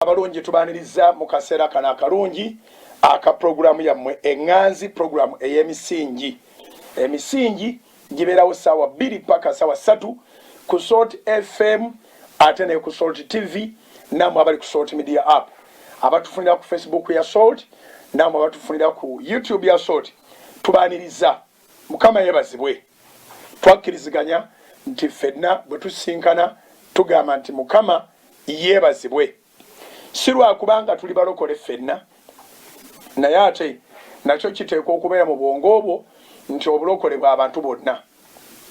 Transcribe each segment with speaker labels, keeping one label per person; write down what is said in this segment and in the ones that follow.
Speaker 1: abalungi tubaniriza mu kaseera kano akalungi aka pulogulaamu yammwe eŋŋanzi pulogulaamu ey'emisingi emisingi gibeerawo ssaawa bbiri paka ssaawa ssatu ku salt fm ate ne ku salt tv naamwe abali ku salt media app abatufunira ku facebook ya salt naamwe abatufunira ku youtube ya salt tubaniriza Mukama yebazibwe twakkiriziganya nti ffenna bwe tusisinkana tugamba nti Mukama yeebazibwe, si lwa kubanga tuli balokole ffenna, naye ate nakyo kiteekwa okubeera mu bwongo bwo nti obulokole bwa bantu bonna,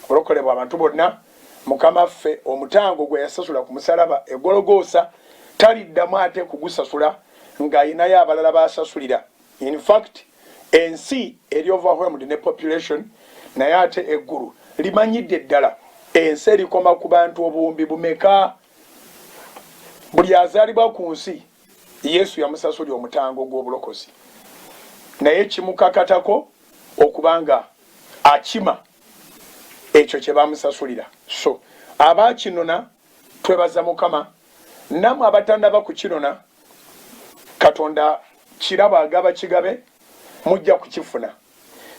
Speaker 1: obulokole bwa bantu bonna. Mukama ffe omutango gwe yasasula ku musalaba e Gologoosa taliddamu ate kugusasula ng'alinayo abalala b'asasulira. In fact ensi eri overwhelmed ne population naye ate eggulu limanyidde ddala ensi erikoma ku bantu obuwumbi bumeka? Buli azaalibwa ku nsi Yesu yamusasuli omutango gw'obulokozi naye kimukakatako okuba nga akima ekyo kye bamusasulira so abaakinona Twebaza mukama namwe abatanaba kukinona katonda kirabo agaba kigabe mujja kukifuna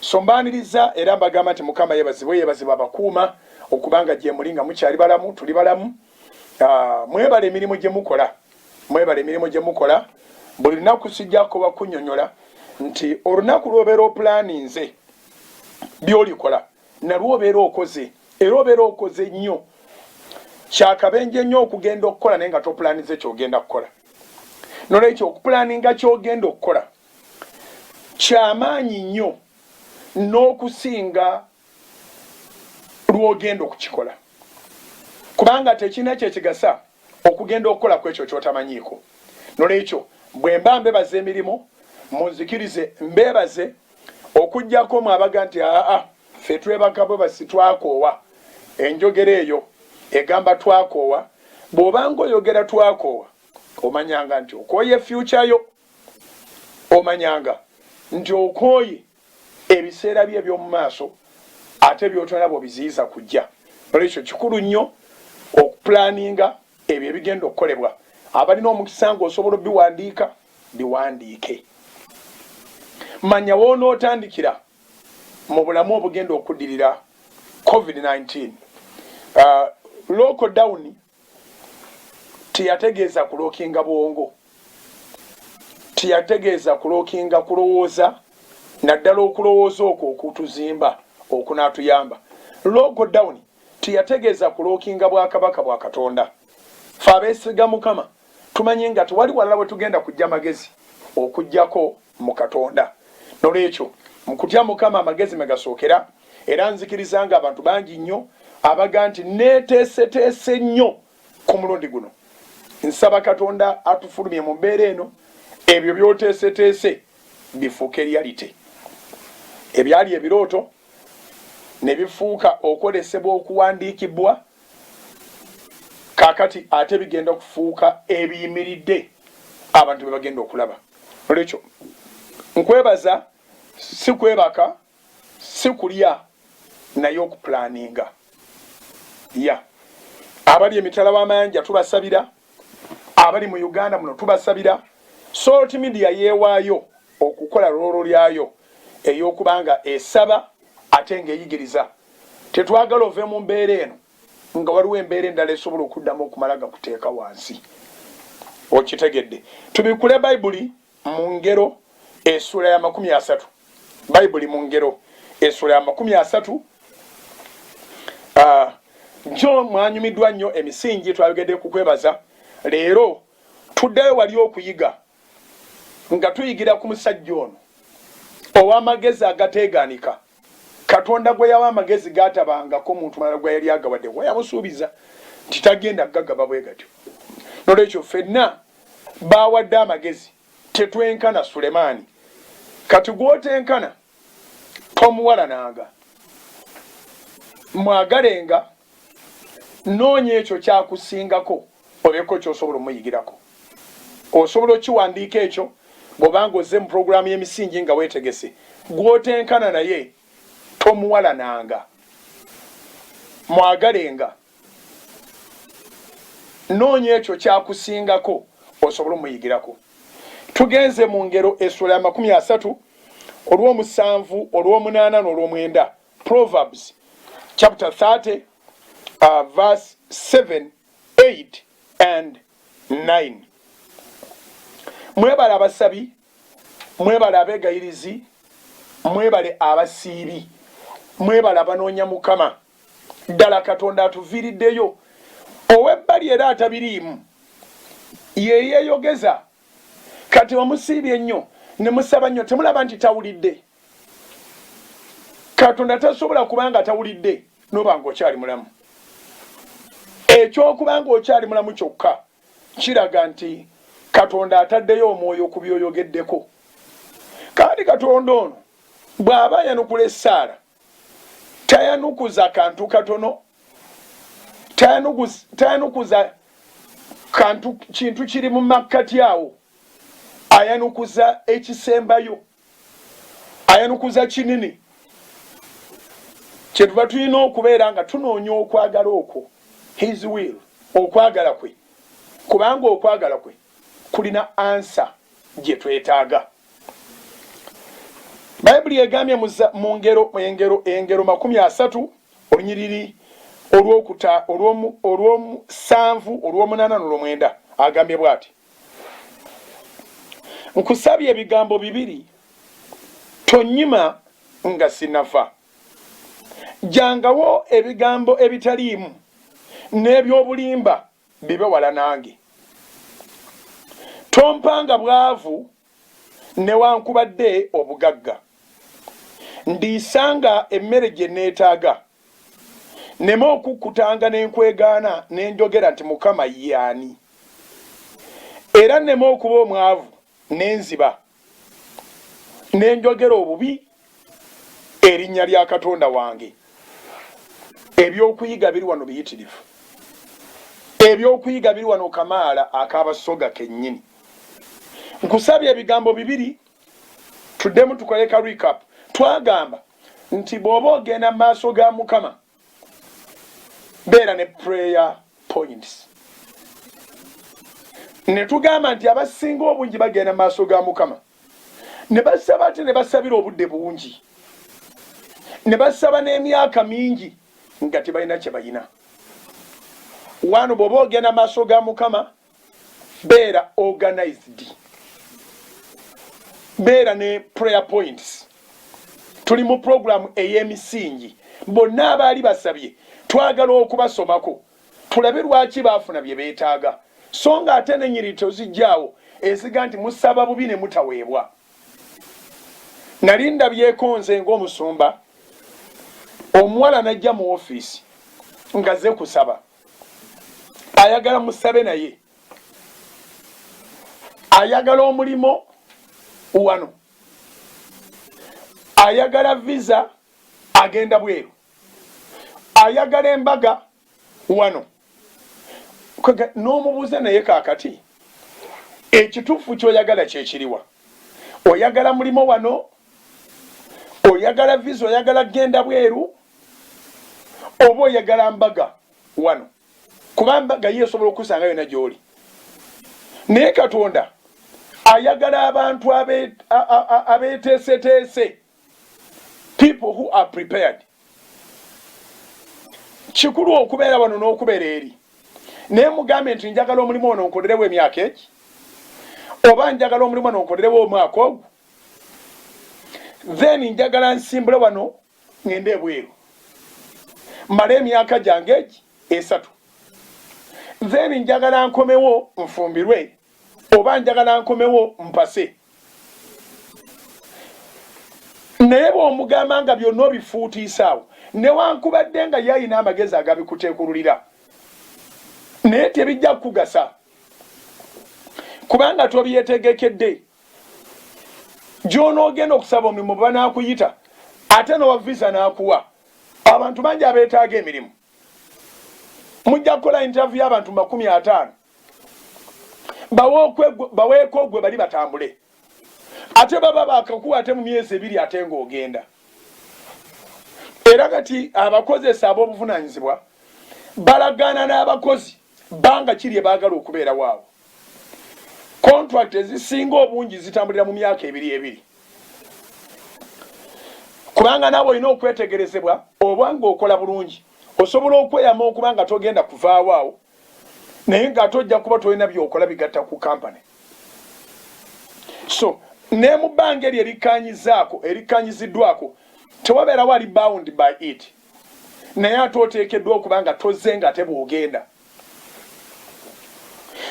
Speaker 1: so mbaniriza era mbagamba nti mukama yebazibwe yebazibwe abakuuma okubanga gyemuli nga mukyali balamu tuli balamu ah, mwebale emirimu gyemukola mwebale emirimu gyemukola buli lunaku sijjako bakunyonyola nti olunaku lwobeera opulaninze byolikola nalwo obeera okoze era obeera okoze nnyo kyakabenje nnyo okugenda okukola naye nga topulanize kyogenda kukola nolwekyo okupulaninga kyogenda okukola kyamaanyi nnyo n'okusinga lwogenda okukikola kubanga tekirina kyekigasa okugenda okukola ku ekyo kyotamanyiiko nolwekyo bwemba mbebaza emirimu munzikirize mbebaze Okujjako mwe abaga nti aa ffe twebaka bwebasi twakoowa enjogera eyo egamba twakoowa bwobanga oyogera twakoowa omanyanga nti okooye future yo omanyanga nti okooye ebiseera byo ebyomumaaso ate byotona bwobiziyiza kujja nolwekyo kikulu nnyo okupulaninga ebyo ebigenda okukolebwa abalina omukisa nga osobola obiwandiika Biwandiike. Manya w'onootandikira mu bulamu obugenda okuddirira covid nineteen. Uh, local down teyategeeza kulookinga bwongo, teyategeeza kulookinga kulowooza, naddala okulowooza okwo okutuzimba okunaatuyamba. Local down teyategeeza kulookinga bwakabaka bwa Katonda. Fe abeesiga Mukama Tumanyi nga tewali walala we tugenda kujja magezi okujjako mu Katonda. Nolwekyo, mu kutya Mukama amagezi mwe gasookera, era nzikiriza nga abantu bangi nnyo abaga nti nneeteeseteese nnyo ku mulundi guno. Nsaba Katonda atufulumye mu mbeera eno, ebyo by'oteeseteese bifuuke reality. Ebyali ebirooto ne bifuuka okwolesebwa okuwandiikibwa. kakati ate bigenda okufuuka ebiyimiridde abantu bebagenda okulaba olwekyo nkwebaza sikwebaka sikulya naye okuplaninga ya abali emitala wamayanja tubasabira abali mu uganda muno tubasabira salt media yewaayo okukola loolo lyayo eyokubanga esaba ate nga eyigiriza Tetwagala ove mu mbeera eno nga waliwo embeera endala esobola okuddamu okumala gakuteeka wansi. Okitegedde? Tubikkule Baibuli mu Ngero essuula ya makumi asatu. Baibuli mu Ngero essuula ya makumi asatu. Ah, jo mwanyumiddwa nnyo emisingi twayogedde ku kwebaza. Leero tuddayo wali okuyiga nga tuyigira ku musajja ono ow'amagezi agateegaanika. Katonda gwe yawa amagezi g'atabangako muntu mulala gwe yali agawadde, kuba yamusuubiza nti tagenda kugagaba bwe gatyo. N'olwekyo ffenna baawadde amagezi tetwenkana Sulemaani. Kati gw'otenkana tomuwalananga, mwagalenga Noonya ekyo ky'akusingako obeeko ky'osobola omuyigirako. Osobola okukiwandiika ekyo bw'oba ng'ozze mu pulogulaamu y'emisingi nga weetegese. Gw'otenkana naye tomuwalananga. Mwagalenga. Noonya ekyo ky'akusingako osobole omuyigirako. Tugenze mu Ngero essuula ya makumi asatu, olw'omusanvu, olw'omunaana n'olw'omwenda Proverbs chapter 30 uh, verse 7, 8 and 9. Mwebale abasabi, mwebale abegayirizi, mwebale abasiibi, mwebale abanoonya Mukama. Ddala Katonda atuviiriddeyo. Ow'ebbali era atabiriimu ye yeeyogeza. Kati omusiibye ennyo ne musaba nnyo, temulaba nti tawulidde? katonda tasobola kuba nga tawulidde noba nga okyali mulamu ekyokuba nga okyali mulamu kyokka kiraga nti katonda ataddeyo omwoyo ku byoyogeddeko kandi katonda ono bw'aba ayanukula essaala tayanukuza kantu katono tayanukuza kantu kintu kiri mu makkati awo ayanukuza ekisembayo ayanukuza kinini kyetuva tulina okubeera nga tunoonya okwagala okwo his will okwagala kwe kubanga okwagala kwe kulina ansa gye twetaaga bayibuli egambye mu ngero engero engero makumi asatu olunyiriri olwokuta olwomusanvu olwomunaana nolwomwenda agambye bwati nkusabye ebigambo bibiri tonyima nga sinafa jangawo ebigambo ebitaliimu n'ebyobulimba bibe wala nange tompanga bwavu newankubadde obugagga ndiisanga emmere gye neetaaga nneme okukkutanga ne nkwegaana ne njogera nti, Mukama ye ani? Era nneme okuba omwavu ne nziba ne njogera obubi erinnya lya Katonda wange. Eby'okuyiga biri wano biyitirivu. Eby'okuyiga biri wano kamaala aka Basoga kennyini. Nkusabye ebigambo bibiri tuddemu tukole ka recap twagamba nti bw'oba ogenda mu maaso ga mukama beera ne prayer points ne tugamba nti abasinga obungi bagenda mu maaso ga mukama ne basaba ate ne basabira obudde bungi ne basaba n'emyaka mingi nga tebalina kye balina wano bw'oba ogenda maaso ga mukama beera organized beera ne prayer points tuli mu puroguramu ey'emisingi bonna abaali basabye twagala okubasomako tulabe lwaki baafuna bye beetaaga so nga ate nenyiri tozijjaawo eziga nti musaba bubi ne mutaweebwa nali ndabyeko nze ng'omusumba omuwala najja mu ofiisi ngaze kusaba ayagala musabe naye ayagala omulimo wano ayagala visa agenda bweru ayagala embaga wano n'omubuuza naye kakati ekituufu kyoyagala kyekiriwa oyagala mulimo wano oyagala visa oyagala kgenda bweru oba oyagala mbaga wano kuba mbaga ye esobola okusanga yona gyoli naye katonda ayagala abantu abeteeseteese people who are prepared kikulu okubeera wano n'okubeera eri naye mugambe nti njagala omulimu ono nkolerewo emyaka egi oba njagala omulimu ono nkolerewo omwaka ogu then njagala nsimbule wano ŋŋende ebweru mmale emyaka gyange egi esatu then njagala nkomewo nfumbirwe oba njagala nkomewo mpase naye bw'omugamba nga byonna obifuutiisaawo newankubadde nga ye alina amagezi agabikuteekululira naye tebijja kukugasa kubanga tobyetegekedde gyonoogenda okusaba omulimu bwebanakuyita ate nowa visa nakuwa abantu bangi abetaaga emirimu mujja kukola intaviyu abantu makumi ataano baweeko ogwe bali batambule ate baba bakakuwa ate mu myezi ebiri ate ngaogenda era kati abakozesa ab'obuvunanyizibwa balagaana n'abakozi Bbanga ki lye baagala okubeerawo awo? Kontulakiti ezisinga obungi zitambulira mu myaka ebiri ebiri, kubanga naawe olina okwetegerezebwa oba ng'okola bulungi. Osobola okweyama okuba nga togenda kuvaawo awo naye ng'ate ojja kuba tolina by'okola bigatta ku kampani. So ne mu bbanga eryo erikkaanyizzaako, erikkaanyiziddwako, tewabeerawo ali bound by it. naye ate oteekeddwa okuba nga tozze nga te bw'ogenda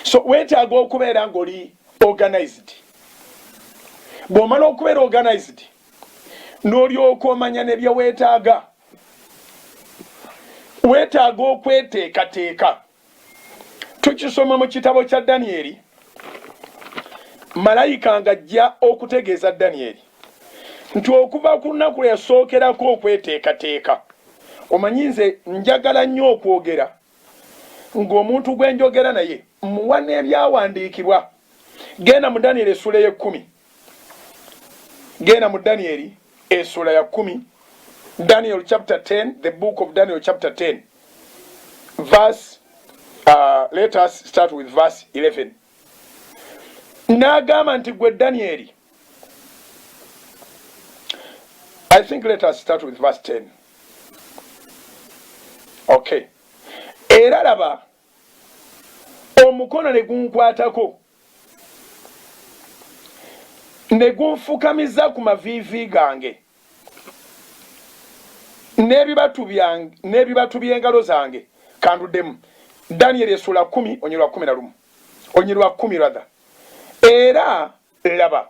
Speaker 1: so weetaaga okubeera ng'oli organized bw'omala okubeera organized n'olyoka omanya ne bye weetaaga weetaaga okweteekateeka tukisoma mu kitabo kya Danyeri, malayika ng'ajja okutegeeza Danyeri nti okuva ku lunaku lwe yasookerako okweteekateeka, omanyi nze njagala nnyo okwogera ng'omuntu gwe njogera naye, mmuwa n'ebyawandiikibwa. Genda mu Danyeri essuula ey'ekkumi. genda mu daniyeli esula ya kumi daniel chapter 10 the book of daniel chapter 10 verse uh, let us start with verse 11 n'agamba nti gwe daniyeli i think let us start with verse 10 okay era laba omukono ne gunkwatako ne gunfukamiza ku maviivi gange n'ebibatu by'engalo zange. Kanduddemu. Danyeri essuula kumi onyirwa kumi na lumu onyirwa kumi rather era laba.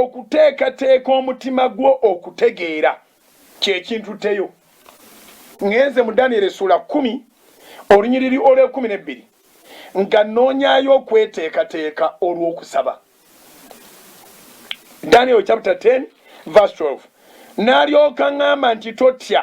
Speaker 1: okuteekateeka omutima gwo okutegeera kyekintutteyo ngenze mu daniel essuula kumi olunyiriri olwekumi nebbiri nga noonyayo okweteekateeka olw'okusaba daniel chapter 10 verse 12 n'alyoka ŋŋamba nti totya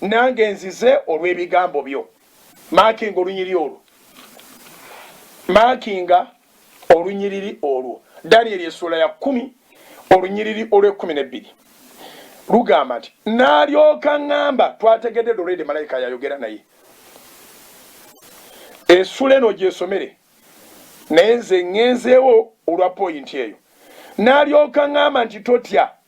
Speaker 1: nange nzize olwebigambo byo makinga olunyiri olwo makinga olunyiriri olwo daniel esuula ya kumi olunyiriri olwekumi nebbiri lugamba nti nalyoka ngamba twategedde dolede malayika yayogera naye esula eno gyesomere naye nze ngenzeewo olwa poyinti eyo nalyoka ngamba nti totya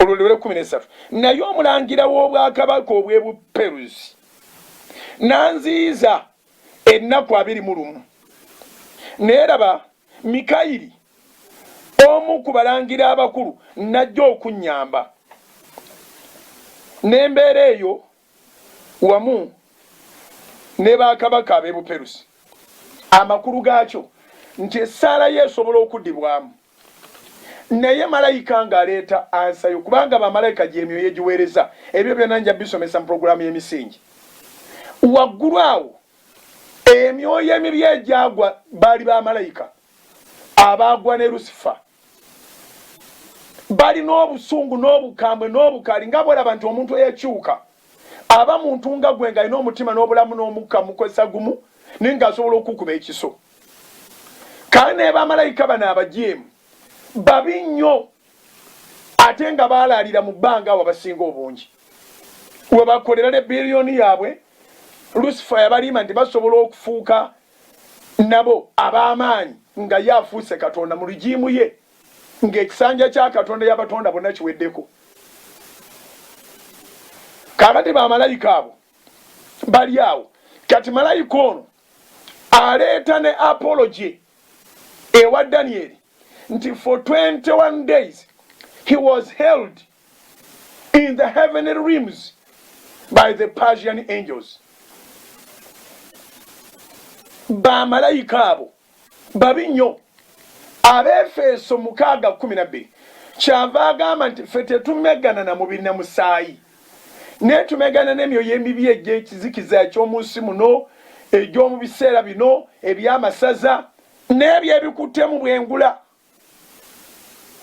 Speaker 1: olwo lwera kkumi n'essatu naye omulangira w'obwakabaka obw'e buperuzi n'anziyiza ennaku abiri mu lumu naye laba mikayiri omu ku balangira abakulu najja okunnyamba n'embeera eyo wamu ne bakabaka ab'e buperusi amakulu gaakyo nti essaala yo esobola okuddibwamu Naye malayika nga aleeta ansa yo, kubanga ba malayika gy'emyoyo egiweereza. Ebyo byonna nja bisomesa mu programu y'emisingi waggulu awo. Emyoyo emibi egyagwa baali ba malayika abaagwa ne Lusifa. Balina obusungu n'obukambwe n'obukaali nga bwolaba nti omuntu eyakyuka aba muntu nga gwe, nga alina omutima n'obulamu n'omukka mukozesa gumu, naye nga asobola okukuba ekiso. kale naye bamalayika bano abajeemu babi nnyo ate nga baalaalira mu bbanga awo abasinga obungi we bakolera ne biriyoni yaabwe lusifa yabaliima nti basobola okufuuka nabo ab'amaanyi nga ye afuuse katonda mu lugiimu ye ng'ekisanja kya katonda yabatonda bonna kiweddeko kaakati bamalayika abo bali awo kati malayika ono aleeta ne apology ewa Daniel nti for 21 days he was held in the heavenly realms by the Persian angels. Bamalayika abo babi nnyo. Abeefeso mukaaga kkumi na bbiri kyava agamba nti ffe tetumeggana na mubiri na musaayi, naye tumeggana n'emyoyo emibi egy'ekizikiza eky'omu nsi muno, egy'omu biseera bino eby'amasaza n'ebyo ebikutte mu bwengula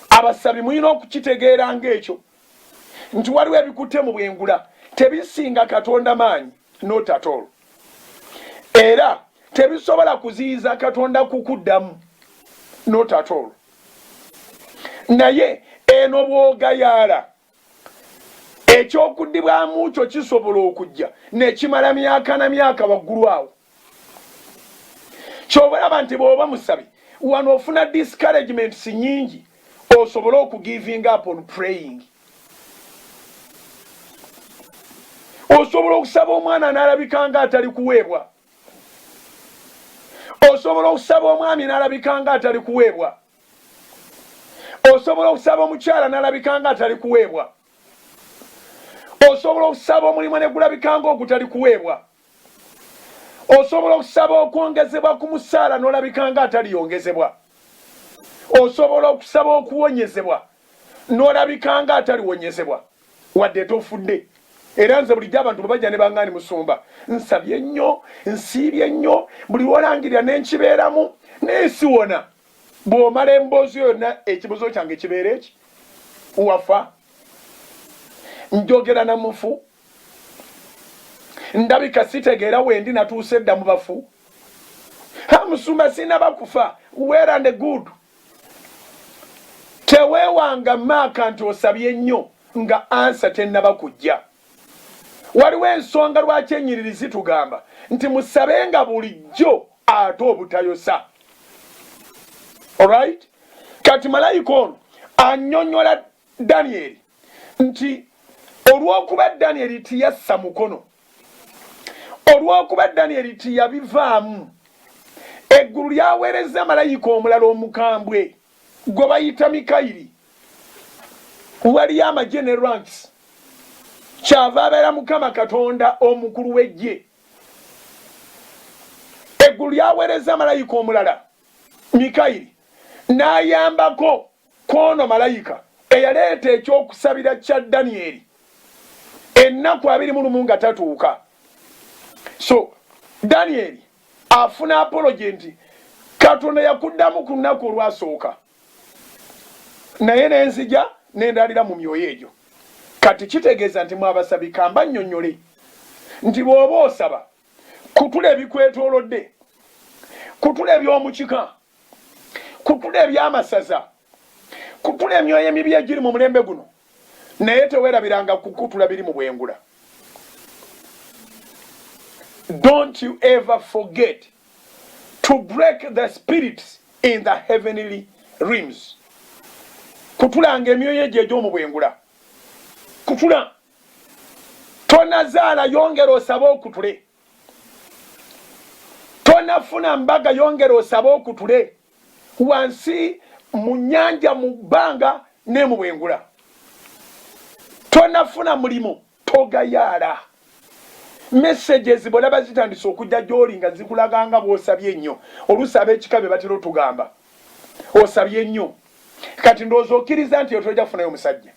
Speaker 1: abasabi mulina okukitegeera ng'ekyo nti waliwo ebikutte mu bwengula tebisinga katonda maanyi notatolo era tebisobola kuziyiza katonda kukuddamu notatolo naye eno bwogayaala eky'okudibwamu kyo kisobola okujja nekimala myaka na myaka waggulu awo kyobalaba nti bwoba musabi wano ofuna discouragements nyingi osobole okugiving up on praying osobola okusaba omwana nalabika nga atali kuweebwa osobola okusaba omwami nalabika nga atali kuweebwa osobola okusaba omukyala nalabika nga atali kuweebwa osobola okusaba omulimu ne gulabika nga ogutali kuweebwa osobola okusaba okwongezebwa ku musaala nolabika nga ataliyongezebwa osobola okusaba okuwonyezebwa nolabika nga ataliwonyezebwa wadde tofudde era nze bulijjo abantu bwebajja ne bangaani musumba nsabye nnyo nsiibye nnyo buli lwolangirira nenkibeeramu naye siwona bw'omala emboozi yonna ekibuzo kyange kibeera eki wafa njogera na mufu ndabika sitegeera wendi natuuse edda mu bafu ha musumba sinaba kufa weera ne good teweewanga maaka nti osabye nnyo nga ansa tennaba kujja Waliwo ensonga lwaki ennyiriri zitugamba nti musabenga bulijjo ate obutayosa. Alright? Kati malayika ono annyonnyola Danyeri nti olw'okuba Danyeri tiyassa mukono, olw'okuba Danyeri tiyabivaamu, eggulu lyaweerezza malayika omulala omukambwe. Gwe bayita Mikayiri waliyo amagye ne ranks kyava abeera mukama katonda omukulu w'eggye eggulu lyaweereza malayika omulala mikayiri n'ayambako kwono malayika eyaleeta ekyokusabira kya danyeri ennaku abiri mu lumu nga tatuuka so danyeri afuna apology nti katonda yakuddamu ku nnaku olwasooka naye nenzija nendalira mu myoyo egyo kati kitegeeza nti mwabasabi kamba nnyonnyole nti bw'oba osaba kutula ebikwetoolodde kutula eby'omukika kutula eby'amasaza kutula emyoyo emibi egiri mu mulembe guno naye tewerabiranga kukutula biri mu bwengula don't you ever forget to break the spirits in the heavenly rims kutulanga emyoyo egyo egyomu bwengula kutula tonazaala yongera osabe okutule tonafuna mbaga yongera osabe okutule wansi mu nyanja mu bbanga ne mu bwengula tonafuna mulimu togayaala messages bolaba zitandise okujja gyoli nga zikulaga nga bwosabye nnyo oluusi ab'ekika be batera otugamba osabye nnyo kati ndowooza okkiriza nti otoja kufunayo omusajja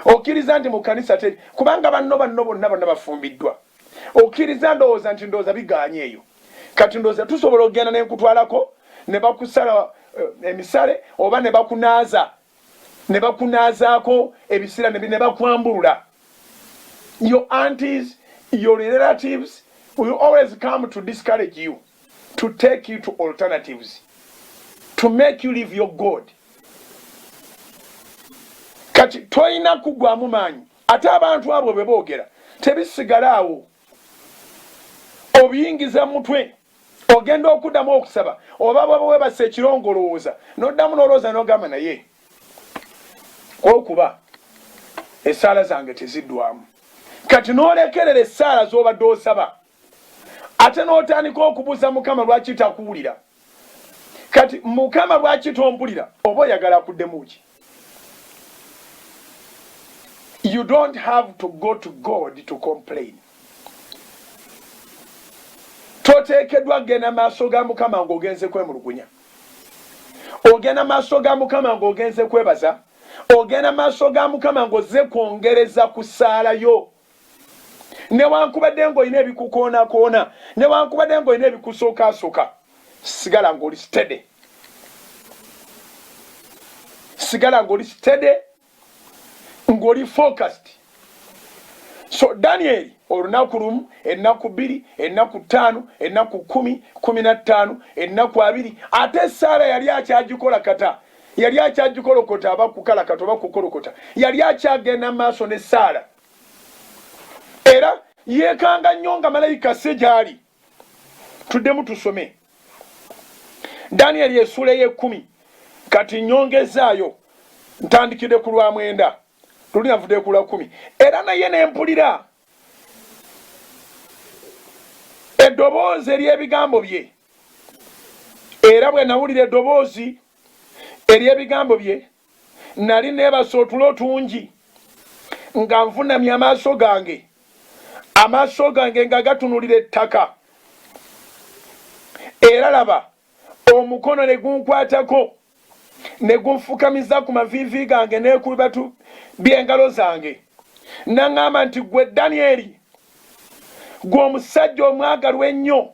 Speaker 1: okkiriza nti mu kanisa teri kubanga banno banno bonna bonna bafumbiddwa okkiriza ndowooza nti ndowooza biganye eyo kati ndooza tusobola okugenda nenkutwalako ne bakusala eh, emisale oba ne bakunaaza ne bakunaazaako ebisira ne bakwambulula your aunties your relatives will always come to discourage you to take you to alternatives to make you live your god kati tolina kugwamu maanyi ate abantu abo beboogera tebisigala awo obiyingiza mu mutwe ogenda okuddamu okusaba oba bwaba webasa ekirongo olowooza noddamu nolowooza nogamba naye okuba esaala zange teziddwamu kati nolekerera esaala zobadde osaba ate notandika okubuuza mukama lwaki takuwulira kati mukama lwaki tompulira oba oyagala akuddemuki you don't have to go to god to complain toteekeddwa kugenda maaso ga mukama ng'ogenze kwemulugunya ogenda maaso ga mukama ng'ogenze kwebaza ogenda maaso ga mukama ng'ozze kwongereza ku ssaala yo newankubadde ng'olina ebikukoonakoona newankubadde ng'olina ebikusokaasoka sigala ng'oli sitede sigala ng'oli sitede ng'oli focused so danieri olunaku lumu ennaku bbiri ennaku ttaano ennaku kumi kumi na ttaano ennaku abiri ate esaala yali akyagikola kata yali akyagikolokota aba kukalakata oba kukolokota yali akyagenda maaso ne saala era yekanga nnyo nga malayika se gyali tuddemu tusome daniel yesuula eyekumi kati nyongezaayo ntandikidde ku lwa mwenda luli navudde ku lwa kumi era naye nempulira eddoboozi ery'ebigambo bye era bwe nawulira eddoboozi ery'ebigambo bye nali neebase otulo otungi nga nvunamye amaaso gange amaaso gange nga gatunulira ettaka era laba omukono ne gunkwatako ne gunfukamiza ku maviivi gange neku bibatu by'engalo zange naŋŋamba nti gwe danyeri gwe omusajja omwagalwa ennyo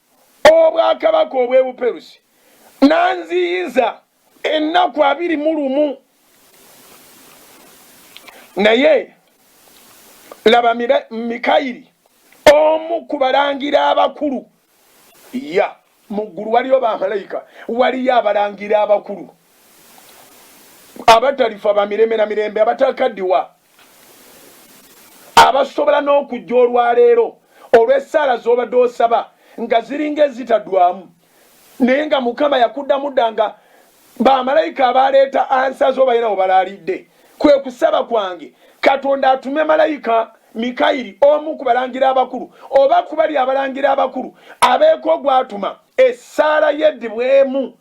Speaker 1: Obwakabaka obw'e Buperusi n'anziyiza ennaku abiri mu lumu. Naye laba, Mikayiri omu ku balangira abakulu, ya mu ggulu waliyo bamalayika, waliyo abalangira abakulu abatalifa ba mirembe na mirembe, abatakaddiwa. abasobola n'okujja olwaleero olw'essaala z'obadde osaba nga ziringa ezitadwamu naye nga mukama yakuddamu dda nga bamalayika abaaleeta ansa zo balina we balaalidde kwe kusaba kwange katonda atume malayika mikayiri omu ku balangira abakulu oba kubali abalangira abakulu abeeko gwatuma essaala yeddibwemu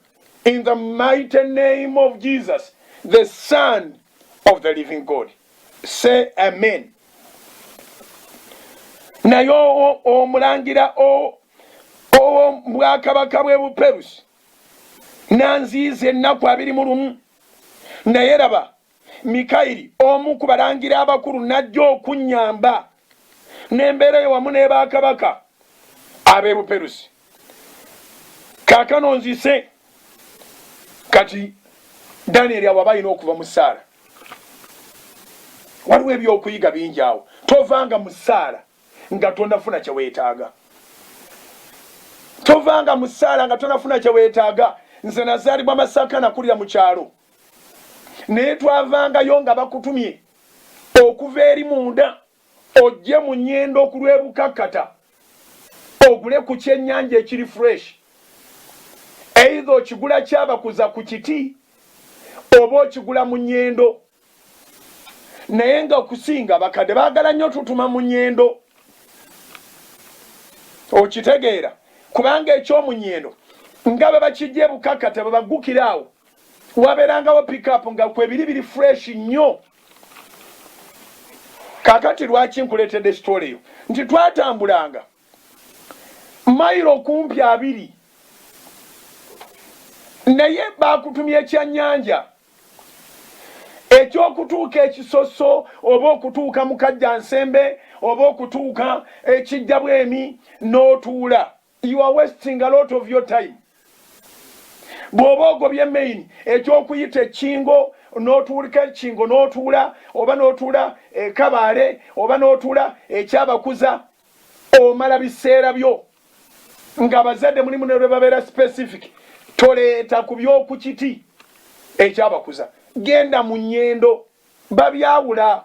Speaker 1: in the mighty name of Jesus, the Son of the living God. Say amen. naye omulangira ow'obwakabaka bw'e buperusi n'anziiza ennaku abiri mu lumu naye laba mikayiri omu ku balangira abakulu n'ajja okunnyamba n'embeera eyo wamu n'ebakabaka ab'e buperusi kaakano nzise kati danyeri awo aba alina okuva mu ssaala waliwo ebyokuyiga bingi awo tovanga mu ssaala nga tonafuna kye weetaaga tovanga mu ssaala nga tonafuna kye weetaaga nze nazaalibwa masaka nakulira mu kyalo naye twavangayo nga bakutumye okuva eri munda ojje mu nyendo okulwebukakkata ogule ku kyenyanja ekiri fresh eidha okigula kyabakuza ku kiti oba okigula mu nyendo naye nga okusinga bakadde bagala nnyo tutuma mu nyendo okitegeera kubanga ekyomunyendo nga bebakijja ebukakkata bebagukira awo wabeerangawo pickup nga kwebiri biri fresh nnyo kakati lwaki nkuleetedde sitole eyo nti twatambulanga mayiro kumpi abiri naye baakutumya ekyannyanja ekyokutuuka ekisoso oba okutuuka mukajja nsembe oba okutuuka ekijja bwemi n'otuula You are wasting a lot of your time. Bw'oba ogobye main eky'okuyita ekkingo n'otuulika ekkingo n'otuula oba n'otuula ekabaale oba n'otuula ekyabakuza omala biseera byo ng'abazadde mulimu ne lwe babeera specific toleeta ku by'oku kiti ekyabakuza genda mu nnyendo babyawula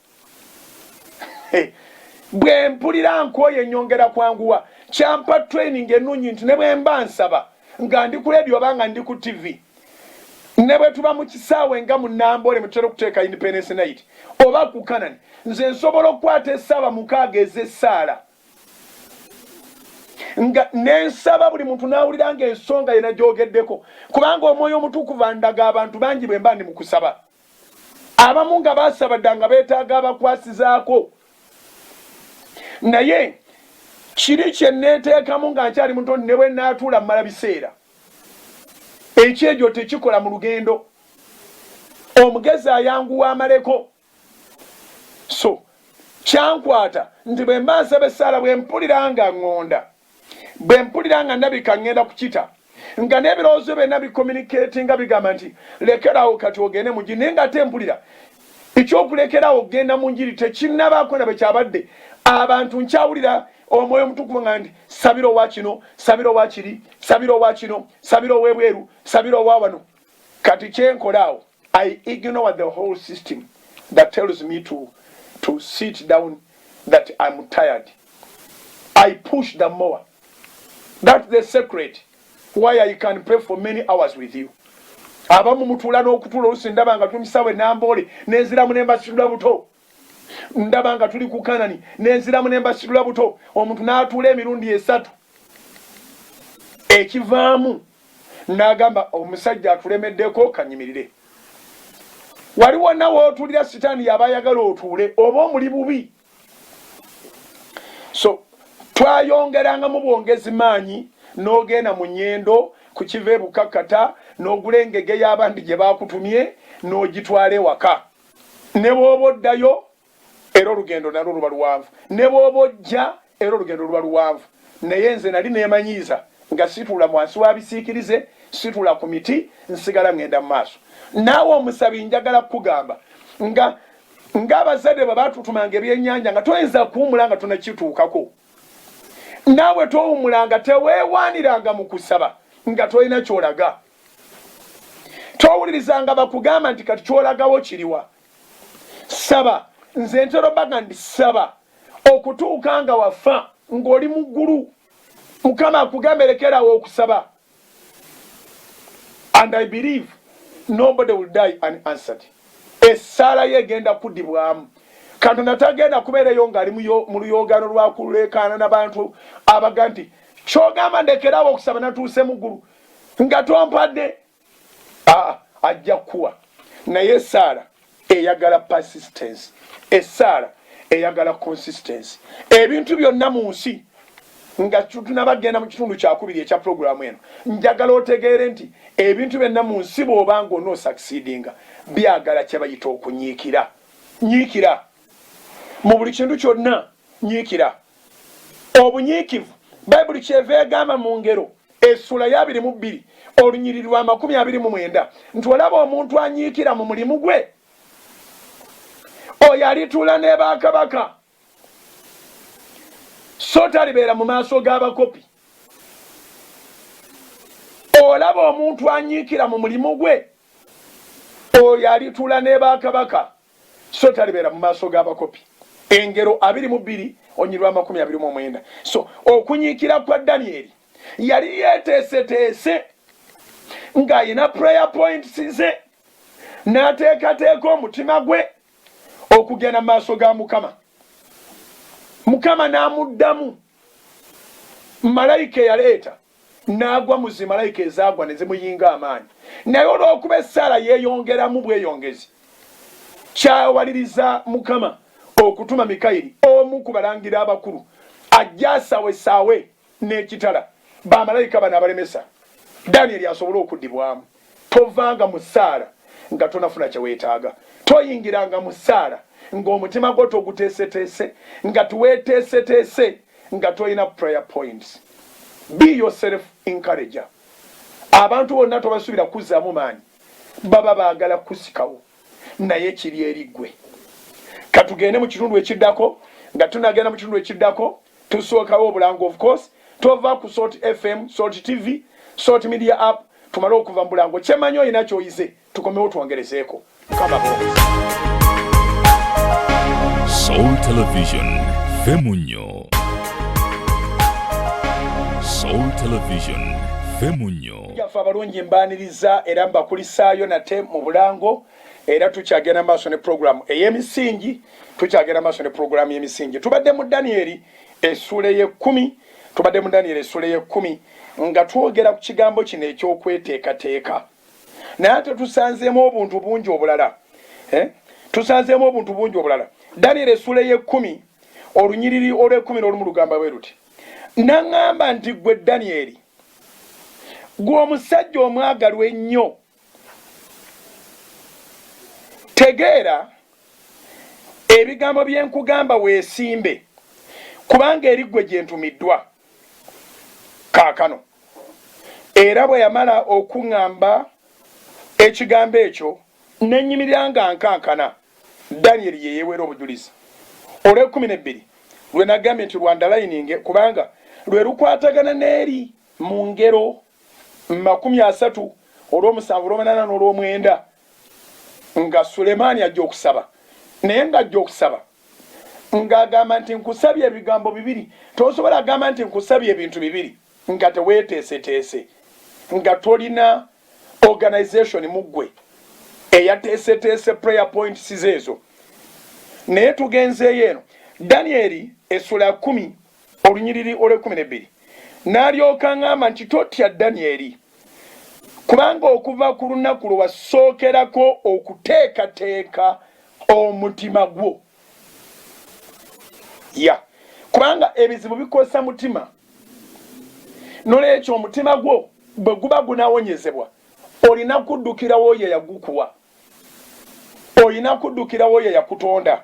Speaker 1: bwe mpulira nkooye nyongera kwanguwa kyampa training enungi nti ne bwe mba nsaba nga ndi ku leediyo oba nga ndi ku ttivi ne bwe tuba mu kisaawe nga mu namboole mwe tutera okuteeka independence night oba ku kanani nze nsobola okukwata esaaba mukaaga ez'essaala nga nensaba buli muntu nawulira nga ensonga yena gyogeddeko kubanga omwoyo omutukuvu andaga abantu bangi bwe mba ndi mu kusaba abamu nga baasaba dda nga beetaaga abakwasizaako naye kiri kye nneeteekamu nga nkyali muto ne bwe naatuula mmala biseera ekyejo tekikola mu lugendo omugezi ayanguwa amaleko so kyankwata nti bwe mba nsaba essaala bwe mpulira nga ŋŋonda bwe mpulira nga ndabika ŋŋenda kukita nga n'ebirowoozo byonna bikominikeeti nga bigamba nti lekeraawo kati ogende mu njiri naye nga ate mpulira ekyokulekeraawo okugenda mu njiri tekinnabaako na bwe kyabadde abantu nkyawulira omwoyo omutukuvu nga nti sabira owa kino sabira owa kiri sabira owa kino sabira ow'ebweru sabira owa wano kati kyenkolaawo I ignore the whole system that tells me to, to sit down that I'm tired. I push the more. That's the secret why I can pray for many hours with you. abamu mutuula n'okutuula olusi ndaba nga tumisawe namboole nenziramu nembasitula buto ndaba nga tuli ku kanani nenziramu nembasitula buto omuntu n'atuula emirundi esatu ekivaamu n'agamba omusajja atulemeddeko kanyimirire waliwo nawe otulira sitaani yaba ayagala otuule oba omuli bubi so twayongerangamu bwongezi maanyi n'ogenda mu nyendo ku kiva ebukakkata n'ogula engege y'abandi gye baakutumye n'ogitwala ewaka ne bw'oba oddayo era olugendo nalwo luba luwanvu ne bw'oba ojja era olugendo luba luwanvu naye nze nali neemanyiiza nga situula mwansi wa bisiikirize situula ku miti nsigala ŋŋenda mu maaso naawe omusabi njagala kukugamba nga ng'abazadde bwe baatutumanga ebyennyanja nga toyinza kuwumula nga tonakituukako naawe towumula nga teweewaaniranga mu kusaba nga tolina kyolaga towuliriza nga bakugamba nti kati kyolagawo kiriwa saba nze ntero baga ndi saba okutuuka nga wafa ng'oli mu ggulu mukama akugambe lekerawo okusaba and i believe nobody will die an answered essaala ye egenda kudibwamu katonda tagenda kubeereyo ng'ali mu luyogaano lwakuleekaana na bantu abaga nti kyogamba ndekerawo okusaba natuuse mu ggulu nga twampadde ah, ajja kuwa naye esaala eyagala persistence esaala eyagala consistency ebintu byonna mu nsi nga tunabagenda mu kitundu kyakubiri ekya pulogulaamu eno njagala otegeere nti ebintu byonna mu nsi bwoba nga onoosakisidinga byagala kyebayita okunyiikira nyiikira mu buli kintu kyonna nyiikira obunyiikivu. Baibuli kyeva egamba mu Ngero essuula ya abiri mu bbiri olunyiriri lwa makumi abiri mu mwenda nti olaba omuntu anyiikira mu mulimu gwe, oyo alituula ne bakabaka, so talibeera mu maaso g'abakopi. Olaba omuntu anyiikira mu mulimu gwe, oyo alituula ne bakabaka. so talibeera mu maaso g'abakopi. Engero abiri mu bbiri onyiriri lw'amakumi abiri mu omwenda. So okunyiikira kwa Danyeri yali yeeteeseteese ng'alina prayer points ze n'ateekateeka omutima gwe okugenda mu maaso ga Mukama. Mukama n'amuddamu malayika eyaleeta. N'agwa mu zimalayika ezaagwa ne zimuyinga amaanyi. Naye olw'okuba essaala yeeyongeramu bweyongezi, kyawaliriza Mukama okutuma Mikayiri, omu ku balangira abakulu, ajje asaawesaawe n'ekitala bamalayika bano abalemesa Danyeri asobole okuddibwamu. Tovanga mu ssaala nga tonafuna kye weetaaga. Toyingiranga mu ssaala ng'omutima gwo toguteeseteese, nga tweteeseteese, nga tolina prayer points. Be your self encourager. Abantu bonna tobasuubira kukuzzaamu maanyi. Baba baagala kukusikawo, naye kiri eri ggwe. Ka tugende mu kitundu ekiddako. Nga tunnagenda mu kitundu ekiddako, Tusookawo obulango of course tova ku salt FM, salt TV, salt media app tumale okuva mubulango kyemanyi olina kyoyize tukomewo twongerezeeko mukama bwongo.
Speaker 2: Soul Television Femunyo Soul Television Femunyo Yaffe abalungi
Speaker 1: mbaniriza era mbakulisaayo nate mu bulango era tukyagenda maaso ne pulogulaamu ey'emisingi tukyagenda maaso ne pulogulaamu y'emisingi tubadde mu daniyeri essuula ey'ekkumi tubadde mu daniyeri essuula ey'ekkumi nga twogera ku kigambo kino eky'okweteekateeka naye ate tusanzeemu obuntu bungi obulala eh? tusanzeemu obuntu bungi obulala daniyeri essuula ey'ekkumi olunyiriri olw'ekkumi n'olumu lugamba bwe luti naŋŋamba nti ggwe daniyeri gwe omusajja omwagalwa ennyo tegeera ebigambo bye nkugamba weesimbe kubanga eri ggwe gye ntumiddwa kaakano era bwe yamala okuŋŋamba ekigambo ekyo ne nnyimirira nga nkankana danyeri ye yeeweera obujulizi olw'ekkumi n'ebbiri lwe nagambye nti lwandalayininge kubanga lwe lukwatagana n'eri mu ngero mu makumi asatu, olw'omusanvu, olw'omunaana n'olw'omwenda, nga Sulemaani ajja okusaba. Naye nga ajja okusaba, nga agamba nti, Nkusabye ebigambo bibiri. Tosobola kugamba nti, Nkusabye ebintu bibiri, nga teweeteeseteese, nga tolina organization mu ggwe eyateeseteese prayer points ze ezo. Naye tugenzeeyo eno, Danyeri essula ya kkumi Olunyiriri olw'ekkumi n'ebbiri N'alyoka aŋŋamba nti, Totya, Danyeri, kubanga okuva ku lunaku lwe wasookerako okuteekateeka omutima gwo, ya, kubanga ebizibu bikosa mutima, n'olwekyo omutima gwo bwe guba gunawonyezebwa, olina kuddukira w'oyo eyagukuwa, olina kuddukira w'oyo eyakutonda.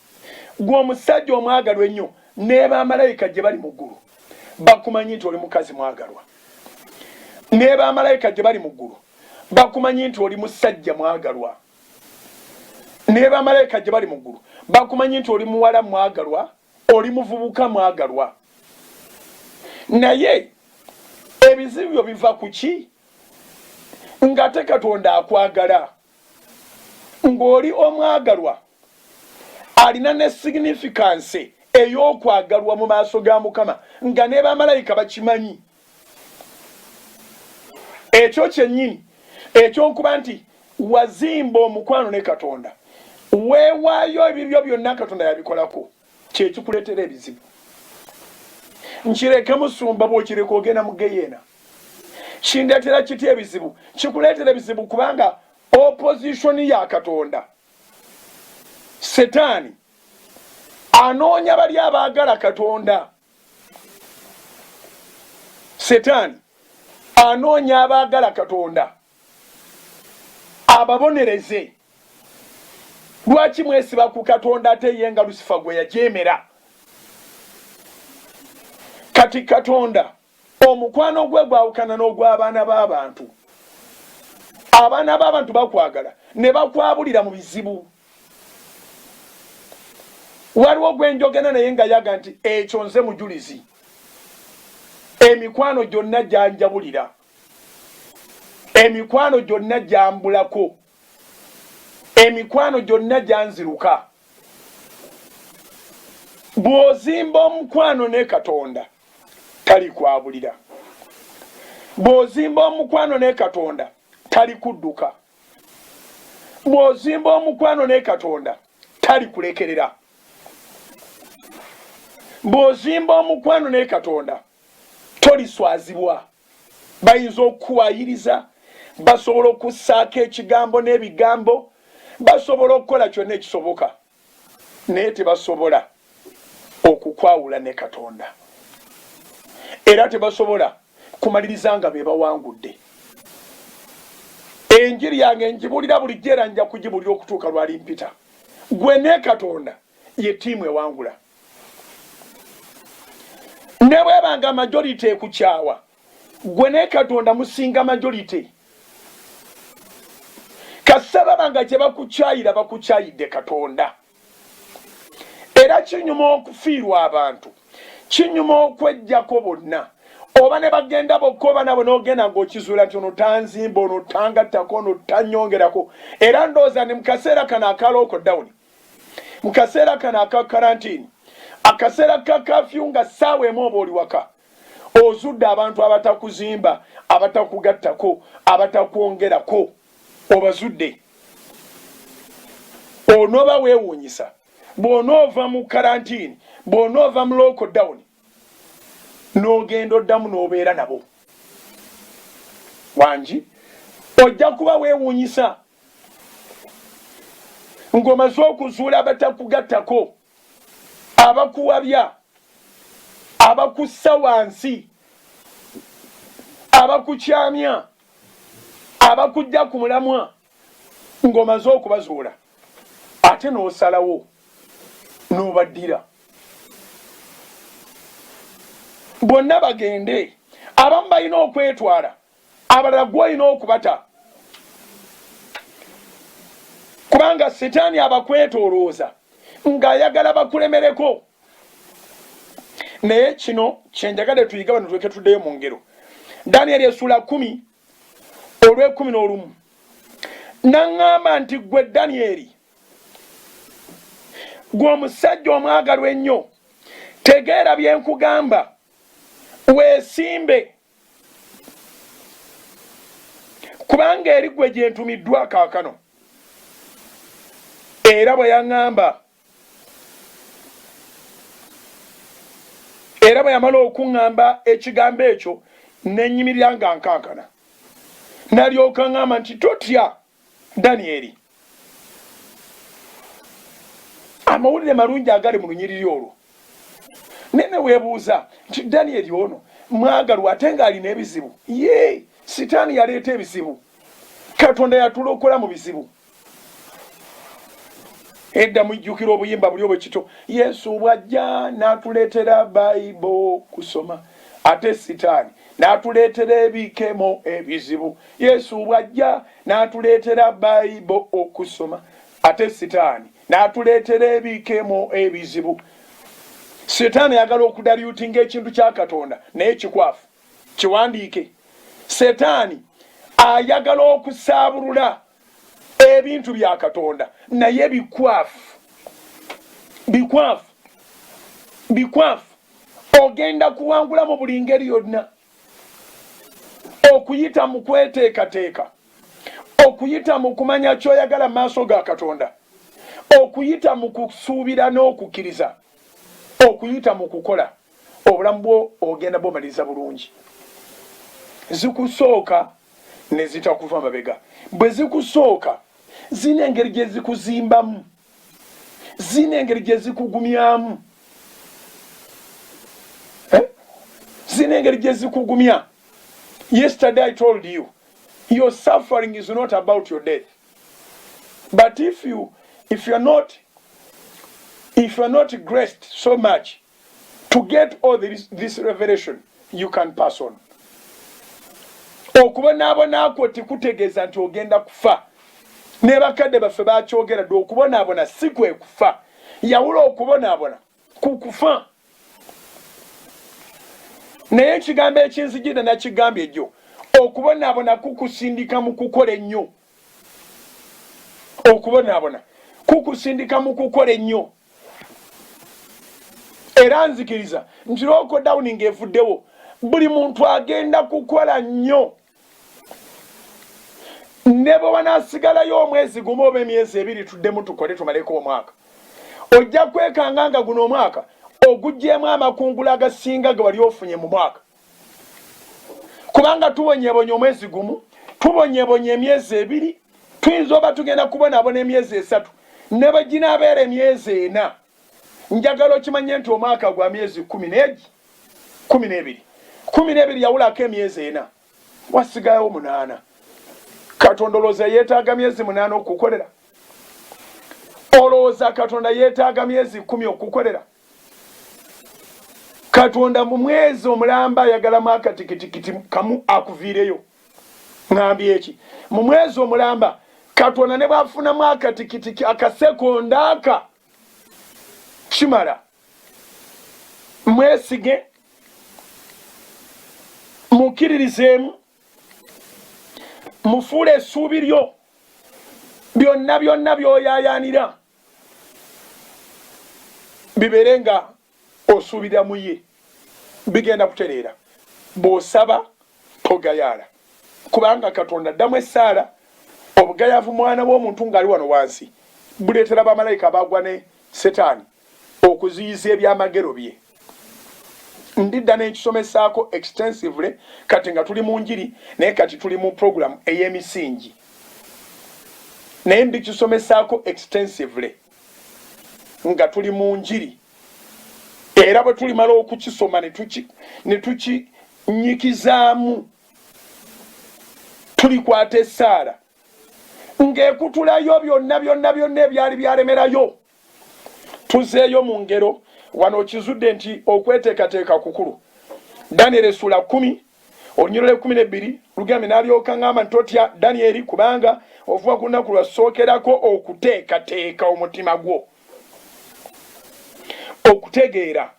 Speaker 1: Gwe omusajja omwagalwa ennyo nebamalayika gye bali mu ggulu bakumanyi nti oli mukazi mwagalwa. Nebamalayika gye bali mu ggulu bakumanyi nti oli musajja mwagalwa. Nebamalayika gye bali mu ggulu bakumanyi nti oli muwala mwagalwa, oli muvubuka mwagalwa. Naye ebizibu byo biva ku ki? Ng'ate Katonda akwagala. ng'oli omwagalwa alina ne signifikanse ey'okwagalwa mu maaso ga Mukama, nga ne bamalayika bakimanyi. Ekyo kyennyini eky'okuba nti wazimba omukwano ne Katonda, weewaayo, ebibyo byonna Katonda yabikolako. kyekikuletera ebizibu nkireke musumba bwokireka ogenda mugeyeena kindetera kiti ebizibu kikuletera ebizibu kubanga opposition ya katonda setaani anoonya bali abaagala katonda setaani anoonya abaagala katonda ababonereze lwaki mwesiba ku katonda ate ye nga lusifa gwe yajeemera kati katonda omukwano gwe gwawukana n'ogw'abaana b'abantu abaana b'abantu bakwagala ne bakwabulira mu bizibu waliwo gwe njogena naye nga yaga nti ekyo nze mujulizi emikwano gyonna gyanjabulira emikwano gyonna gyambulako, emikwano gyonna gyanziruka. Bw'ozimba omukwano ne Katonda talikwabulira, bw'ozimba omukwano ne Katonda talikudduka, bw'ozimba omukwano ne Katonda talikulekerera, bw'ozimba omukwano ne Katonda Toliswazibwa. Bayinza okukuwaayiriza, basobola okussaako ekigambo n'ebigambo, basobola okukola kyonna ekisoboka, naye tebasobola okukwawula ne Katonda. Era tebasobola kumaliriza nga be bawangudde. Enjiri yange ngibuulira bulijjo era nja kugibuulira okutuuka lw'alimpita. Ggwe ne Katonda ye ttiimu ewangula. ne bweba nga majority ekukyawa gwe ne katonda musinga majority kasita baba nga gyebakukyayira bakukyayidde katonda era kinyuma okufiirwa abantu kinyuma okwejjako bonna oba ne bagenda bokka oba nabo n'ogenda ng'okizuula nti ono tanzimba ono tangattako ono tanyongerako era ndowooza ne mu kaseera kano akalooko dawuni mu kaseera kano aka karantini akaseera ka kafyu nga ssaawa emu oba oli waka ozudde abantu abatakuzimba abatakugattako abatakwongerako obazudde onoba weewuunyisa bw'onoova mu karantini bw'onoova mu local dawuni n'ogenda oddamu n'obeera nabo wangi ojja kuba weewuunyisa ng'omaze okuzuula abatakugattako abakuwabya abakussa wansi abakukyamya abakujja ku mulamwa ng'omaze okubazuula ate n'osalawo n'obaddira bonna bagende abamu balina okwetwala abalala gwolina okubata kubanga sitaani abakwetolooza ng'ayagala bakulemereko naye kino kyenjagade tuyiga bano tuleke tuddeyo mu ngero daniel esuula kumi olw'ekumi n'olumu n'aŋŋamba nti, Ggwe Danyeri, ggwe omusajja omwagalwa ennyo, tegeera bye nkugamba, weesimbe, kubanga eri ggwe gye ntumiddwa kaakano. Era bwe yaŋŋamba era bwe yamala okuŋŋamba ekigambo ekyo ne nnyimirira nga nkankana. Nalyoka ŋŋamba nti, Totya, Danyeri. Amawulire malungi agali mu lunyiriri olwo. Naye ne weebuuza nti, Danyeri ono mwagalwa ate ng'alina ebizibu? Yee, Sitaani yaleeta ebizibu. Katonda yatulokola mu bizibu. edda mujjukira obuyimba buli obwe kito yesu bwajja natuleetera baibo kusoma ate sitaani natuleetera ebikemo ebizibu yesu bwajja natuleetera baibo okusoma ate sitaani natuleetera ebikemo ebizibu sitaani ayagala okudalyutinga ekintu kya katonda naye kikwafu kiwandiike setaani ayagala okusaabulula ebintu bya katonda naye bikwafu bikwafu bikwafu ogenda kuwangula mu buli ngeri yonna okuyita mu kweteekateeka okuyita mu kumanya kyoyagala maaso ga katonda okuyita mu kusuubira n'okukkiriza okuyita mu kukola obulamu bwo ogenda bumaliriza bulungi zikusooka ne zitakuva mabega bwe zikusooka zirina engeri gye zikuzimbamu zirina engeri gye zikugumyamu eh? zirina engeri gye zikugumya yesterday i told you your suffering is not about your death but if you if you're not if you're not graced so much to get all this, this revelation you can pass on okubonaabona kwo tikutegeeza nti ogenda kufa ne bakadde baffe bakyogera dde okubonaabona si kwe kufa yawula okubonaabona ku kufa naye ekigambo ekinzijidde nakigambye jjo okubonaabona kukusindika mu kukola ennyo okubonaabona kukusindika mu kukola ennyo era nzikiriza nti lokodawuni ng'evuddewo buli muntu agenda kukola nnyo ne bwe wanaasigalayo omwezi gumu oba emyezi ebiri tuddemu tukole tumaleko omwaka ojja kwekanga nga guno omwaka ogugyemu amakungula agasinga ge wali ofunye mu mwaka kubanga tubonyebonye omwezi gumu tubonyebonye emyezi ebiri tuyinza oba tugenda kubonabona emyezi esatu ne bwe ginaabeera emyezi ena njagala okimanye nti omwaka gwa myezi kumi negi kumi n'ebiri kumi n'ebiri yawulako emyezi ena wasigalawo munaana katonda olowooza yeetaaga myezi munaana okukukolera olowooza katonda yeetaaga myezi kumi okukukolera katonda mu mwezi omulamba ayagalamu akatikitikiti kamu akuviireyo ngambye eki mu mwezi omulamba katonda ne bwafunamu akatikitiki akasekonda aka kimala mwesige mukkiririzeemu mufuule essuubi lyo byonna byonna byoyayaanira bibeere nga osuubira mu ye bigenda kutereera bw'osaba togayaala kubanga katonda addamu essaala obugayaavu mwana w'omuntu ng'ali wano wansi buleetera bamalayika abaagwa ne setaani okuziyiza ebyamagero bye ndidda nenkisomesaako extensively kati nga tuli mu njiri naye kati tuli mu program eyemisingi naye ndikisomesaako extensively nga tuli mu njiri era bwe tulimala okukisoma ne tukinyikizaamu tulikwata esaala ng'ekutulayo byonna byonna byonna ebyali byalemerayo tuzeeyo mu ngero wano okizudde nti okweteekateeka kukulu daniel esula kumi olunyirira ekumi nebbiri lugambe nalyoka ngamba nti totya danieri kubanga ovuba ku lunaku lwasookerako okuteekateeka omutima gwo okutegeera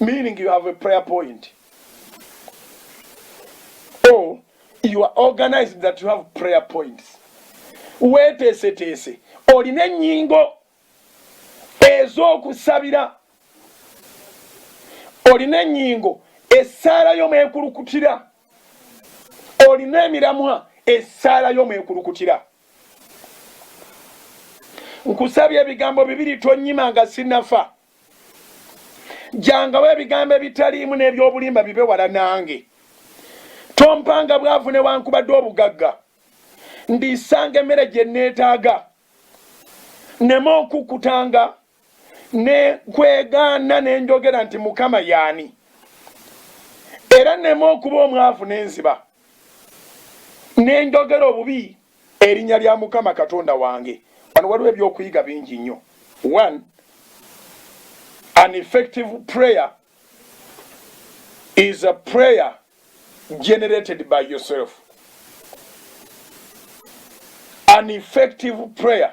Speaker 1: meaning you have a prayer point or you are organized that you have prayer points weeteeseteese olina ennyingo ez'okusabira olina ennyingo essaala yo mwekulukutira olina emiramwa essaala yo mwekulukutira nkusabye ebigambo bibiri tonyima nga sinafa jangawo ebigambo ebitaliimu n'eby'obulimba bibe wala nange tompanga bwavu newankubadde obugagga ndiisanga emmere gye nneetaaga nema okukutanga ne kwegaana ne njogera nti mukama yaani era nema okuba omwavu n'enziba ne njogera obubi Erinya lya mukama katonda wange wano waliwo ebyokuyiga bingi nnyo one an effective prayer is a prayer generated by yourself an effective prayer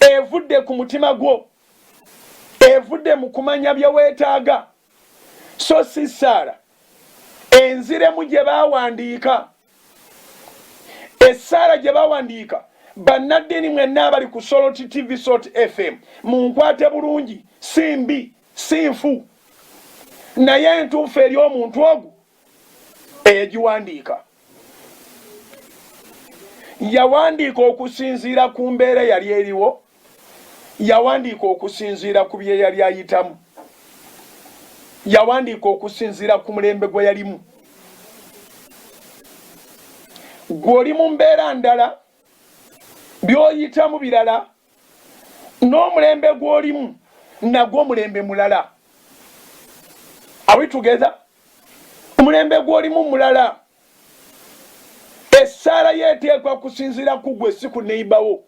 Speaker 1: evudde ku mutima gwo, evudde mu kumanya bye weetaaga, so si ssaala enziremu gye baawandiika. Essaala gye baawandiika bannaddiini mwenna abali ku Salt TV, Salt FM, munkwate bulungi, si mbi, si nfu, naye ntuufu eri omuntu ogwo eyagiwandiika yawandiika okusinziira ku mbeera yali eriwo yawandiika okusinziira ku bye yali ayitamu yawandiika okusinziira ku mulembe gwe yalimu gw'oli mu mbeera ndala by'oyitamu birala n'omulembe gw'olimu nagwo omulembe mulala are we together omulembe gw'olimu mulala. Essaala yo eteekwa kusinziira ku gwe si ku neyiba wo,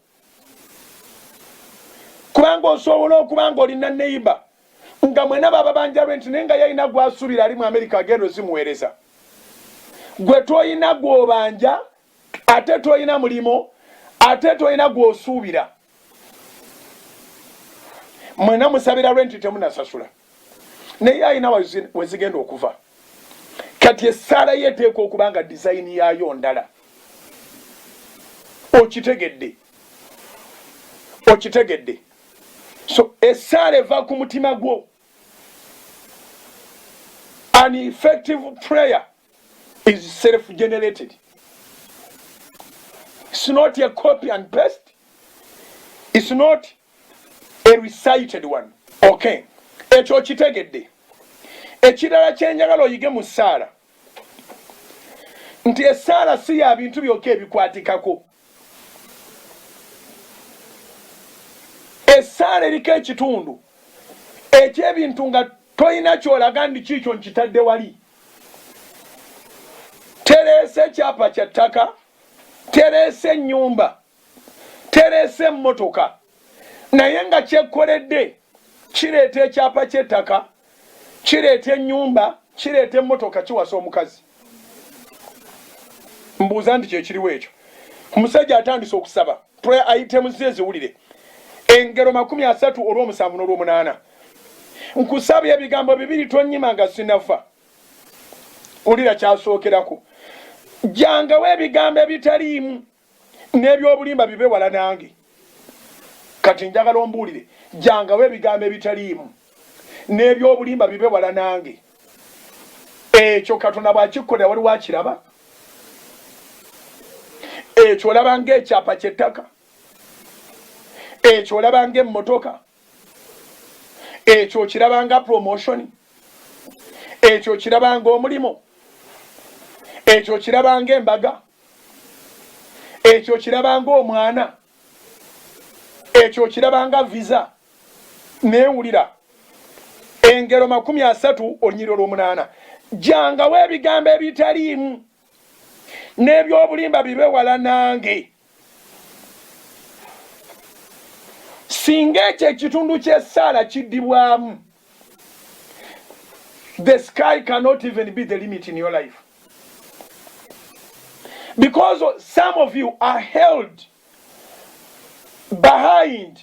Speaker 1: kubanga osobola okuba nga olina neyiba nga mwena bababanja lwenti naye nga yalina gwasuubira ali mu Amerika agenda ozimuweereza. Gwe tolina gw'obanja ate tolina mulimu ate tolina gw'osuubira. Mwena musabira lwenti temunasasula. naye alina wezigenda okuva kati essaala ye eteeka okuba nga dizayini yaayo ndala okitegedde okitegedde so essaala eva ku mutima gwo an effective prayer is self generated it's not a copy and paste it's not a recited one okay ekyo okitegedde ekirala kyenjagala oyige mu ssaala nti esaala si ya bintu byokka ebikwatikako esaala eriko ekitundu ekyebintu nga tolina kyolaga ndi kiikyo nkitadde wali tereese ekyapa kya ttaka tereese ennyumba tereese emmotoka naye nga kyekkoledde kireeta ekyapa ky'ettaka kireeta ennyumba kireeta emmotoka kiwasa omukazi mbuuza nti kyekiriwo ekyo omusajja atandise okusaba prayer items eziwulire engero makumi asatu olwomusanvu n'olwomunaana nkusabye ebigambo bibiri tonyima nga sinafa wulira kyasookerako jangawo ebigambo ebitaliimu n'ebyobulimba bibe wala nange kati njagala ombuulire jangawo ebigambo ebitaliimu n'ebyobulimba bibe wala nange ekyo katonda bwakikkolera waliwo akiraba ekyo olaba ngaekyapa kyettaka ekyo olaba ngaemmotoka ekyo okiraba nga promotion ekyo okiraba nga omulimu ekyo okiraba nga embaga ekyo okiraba nga omwana ekyo okiraba nga visa newulira engero makumi asatu olunyiriro lwomunaana jangawo ebigambo ebitaliimu n'ebyobulimba bibe wala nange singa ekyo ekitundu ky'essaala kiddibwamu the sky cannot even be the limit in your life because some of you are held behind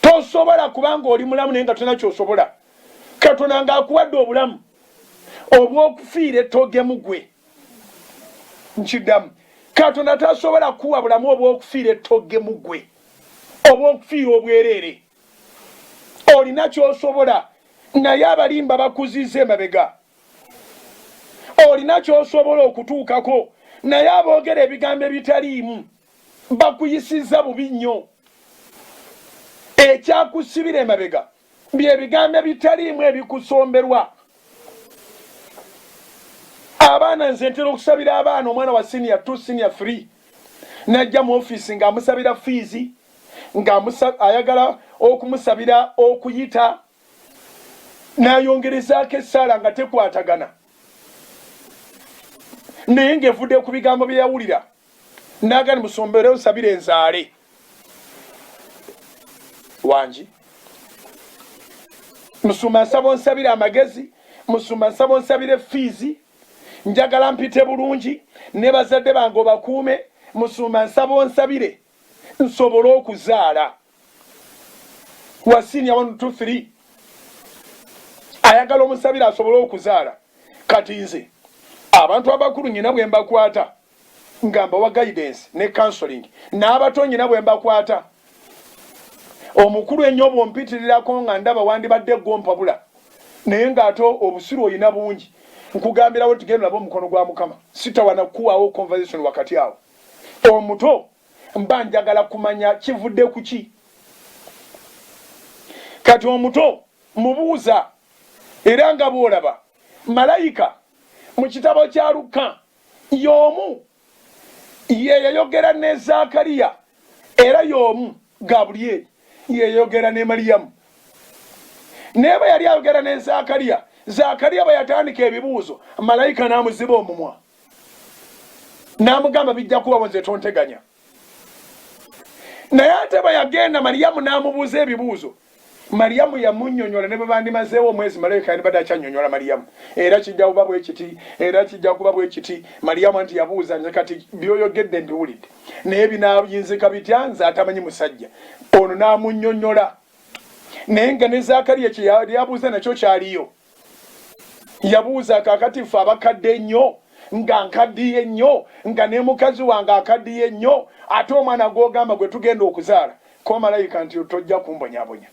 Speaker 1: tosobola kubanga oli mulamu naye nga tolina kyosobola katonda nga akuwadde obulamu obwokufiira ettogemu gwe nkiddamu katonda tasobola kuwa bulamu obwokufiira ettogemu gwe obwokufiira obwereere olina kyosobola naye abalimba bakuziza emabega olina kyosobola okutuukako naye aboogera ebigambo ebitaliimu bakuyisizza bubi nnyo ekyakusibira emabega byebigambo ebitaliimu ebikusomberwa abaana nze ntera okusabira abaana omwana wa senior t senior free najja mu ofiisi ngaamusabira fiizi ngaayagala okumusabira okuyita nayongerezaako essaala nga tekwatagana naye ngaevude ku bigambo byeyawulira nagani musombere nsabire nzaale wangi musumba nsaba onsabire amagezi musumba nsaba onsabire fiizi njagala mpite bulungi ne bazadde bange obakuume musumba nsaba onsabire nsobole okuzaala wasinia one two three ayagala omusabire asobole okuzaala kati nze abantu abakulu nyina bwe mbakwata nga mbawa guidance ne counseling n'abato nyina bwe mbakwata omukulu ennyo bw'ompitirirako nga ndaba wandibadde ggwe ompabula naye ng'ate obusiru olina bungi nkugambirawo nti genda olabe omukono gwa Mukama sitawana kukuwaawo conversation wakati awo omuto mba njagala kumanya kivudde ku ki kati omuto mubuuza era nga bw'olaba malayika mu kitabo kya Lukka Y'omu, Ye yayogera ne Zaakaliya, era y'omu, Gabulyeri, Ye yayogera ne Maliyamu. Naye bwe yali ayogera ne Zaakaliya, Zaakaliya bwe yatandika ebibuuzo, malayika n'amuziba omumwa, n'amugamba, Bijja kubawo, nze tonteganya. naye ate bwe yagenda maliyamu n'amubuuza ebibuuzo maliyamu yamunyonyola ne bwe bandimazeewo omwezi malayika yandibadde akyanyonyola maliyamu era kijja kuba bwe kiti era kijja kuba bwe kiti maliyamu nti yabuuza nze kati byoyogedde mbiwulidde naye binayinzika bitya nze atamanyi musajja ono n'amunyonyola naye nga ne zakariya kye yali abuuza nakyo kyaliyo yabuuza kakati ffe abakadde ennyo nga nkaddiye nnyo nga ne mukazi wange akaddiye nnyo ate omwana gw'ogamba gwe tugenda okuzaala ko malayika nti tojja kumbonyabonya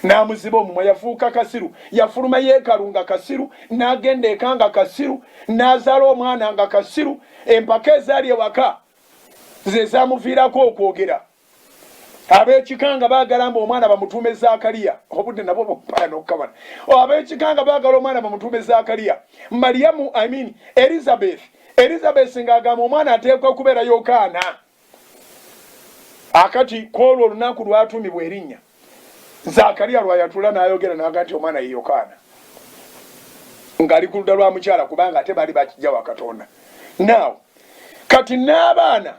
Speaker 1: n'amuziba omumwa yafuuka kasiru yafuluma yeekalu nga kasiru n'agenda eka nga kasiru n'azaala omwana nga kasiru empaka ezaali ewaka ze zamuviirako okwogera Ab'ekika nga baagala mbu omwana bamutuume Zaakaliya. Obudde nabwo bumpaya n'okukabana. Ab'ekika nga baagala omwana bamutuume Zaakaliya. Maliyamu, I mean Erizabeesi. Erizabeesi ng'agamba omwana ateekwa kubeera Yokaana. Akati kw'olwo olunaku lw'atuumibwa erinnya, Zaakaliya lwa yatuula n'ayogera n'aga nti omwana ye Yokaana. Ng'ali ku ludda lwa mukyala kubanga ate baali ba kiggya wa Katonda. Now, kati n'abaana.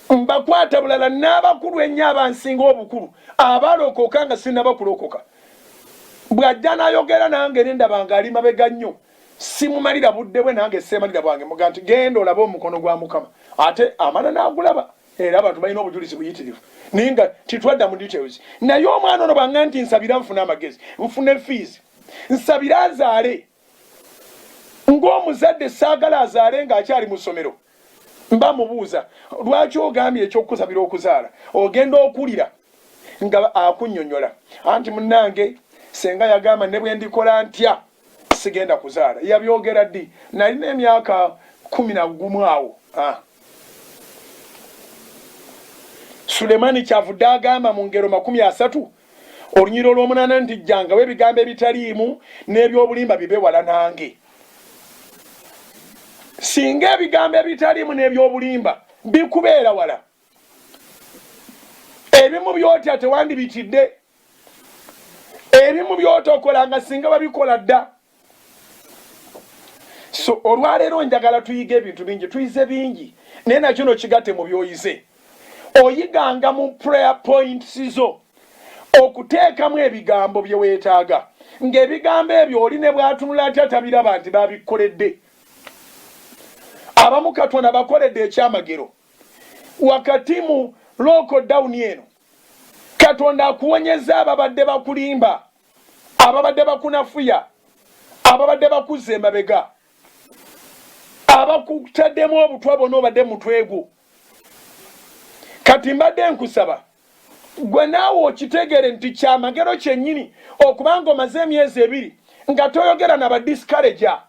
Speaker 1: mbakwata bulala n'abakulu ennyo abansinga obukulu abalokoka nga sinnaba kulokoka. Bw'ajja n'ayogera nange ne ndaba ng'ali mabega nnyo, simumalira budde bwe nange sseemalira bwange. Mmuga nti, Genda olabe omukono gwa Mukama. Ate amala n'agulaba. Era abantu balina obujulizi buyitirivu. Naye nga tetwadda mu details. Naye omwana ono bw'aŋŋamba nti nsabira nfune amagezi, nfune fiizi, nsabire azaale, Ng'omuzadde ssaagala azaale ng'akyali mu ssomero. Mba mmubuuza, Lwaki ogambye eky'okukusabira okuzaala? Ogenda okuwulira nga akunnyonnyola. Anti munnange, ssenga yagamba ne bwe ndikola ntya sigenda kuzaala. Yabyogera ddi? Nnalina emyaka kkumi na gumu awo. Ha! Sulemani kyavudde agamba mu ngero makumi asatu olunyiri olwomunaana nti jjangawo ebigambo ebitaliimu n'ebyobulimba bibe wala nange singa ebigambo ebitaliimu n'ebyobulimba bikubeera wala ebimu byotya tewandibitidde ebimu byotokola nga singa babikola dda so olwaleero njagala tuyiga ebintu bingi tuyize bingi naye nakyo no kigate mu byoyize oyiganga mu prayer points zo okuteekamu ebigambo bye weetaaga ng'ebigambo ebyo oli ne bw'atunula atya tabiraba nti babikoledde abamu katonda bakoledde ekyamagero wakati mu lookodawuni eno katonda akuwonyeza ababadde bakulimba ababadde bakunafuya ababadde bakuzza emabega abakutaddemu obutwa bona obadde mutwegwo kati mbadde nkusaba gwe naawe okitegere nti kyamagero kyennyini okubanga omaze emyezi ebiri nga toyogera na badiscaraja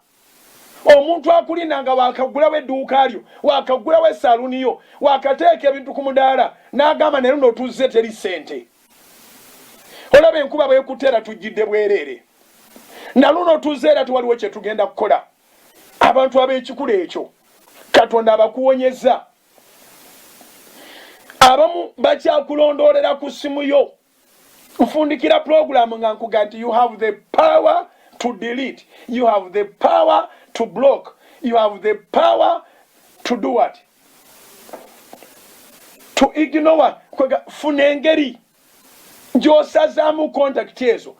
Speaker 1: Omuntu akulinda nga waakaggulawo edduuka lyo, waakaggulawo esaaluuni yo, waakateeka ebintu ku mudaala n'agamba ne luno tuzze teri ssente. Olaba enkuba bw'ekutte era tujjidde bwereere. Na luno tuzze era tewaliwo kye tugenda kukola. Abantu ab'ekikula ekyo Katonda abakuwonyezza. Abamu bakyakulondoolera ku ssimu yo kufundikira program nga nkuga nti you have the power to delete you have the power to block you have the power to do what to ignore kwega funa engeri gyosazaamu contact ezo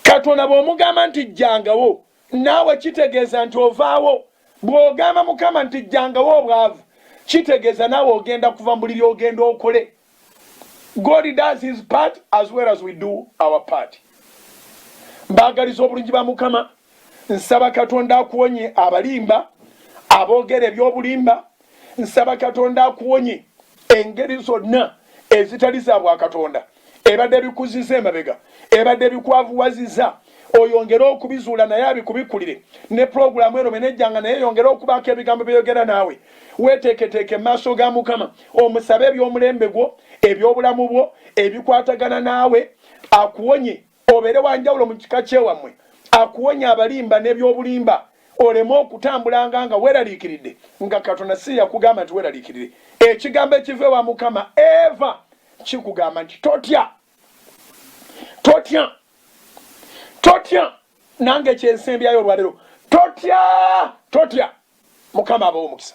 Speaker 1: katonda bwomugamba nti jjangawo naawe kitegeeza nti ovaawo bwogamba mukama nti jjangawo obwavu kitegeeza naawe ogenda kuva mu buliri ogenda okole God does his part as well as we do our part. Mbagaliza obulungi ba Mukama, nsaba Katonda akuwonye abalimba, aboogera eby'obulimba, nsaba Katonda akuwonye engeri zonna ezitali za bwa Katonda, ebadde bikuziza emabega, ebadde bikwavuwaziza. oyongere okubizuula naye abikubikulire ne pulogulaamu eno menejjanga naye yongere okubaako ebigambo byeyogera naawe weeteeketeeke mu maaso ga mukama omusabe eby'omulembe gwo eby'obulamu bwo ebikwatagana naawe akuwonye obeere wanjawulo mu kika kyewammwe akuwonye abalimba n'ebyobulimba oleme okutambulanga nga weeraliikiridde nga katonda si yakugamba nti weeraliikirire ekigambo ekiva ewa mukama eva kikugamba nti totya totya totya nange kyensembyayo olwalero totya totya mukama abawo omukisa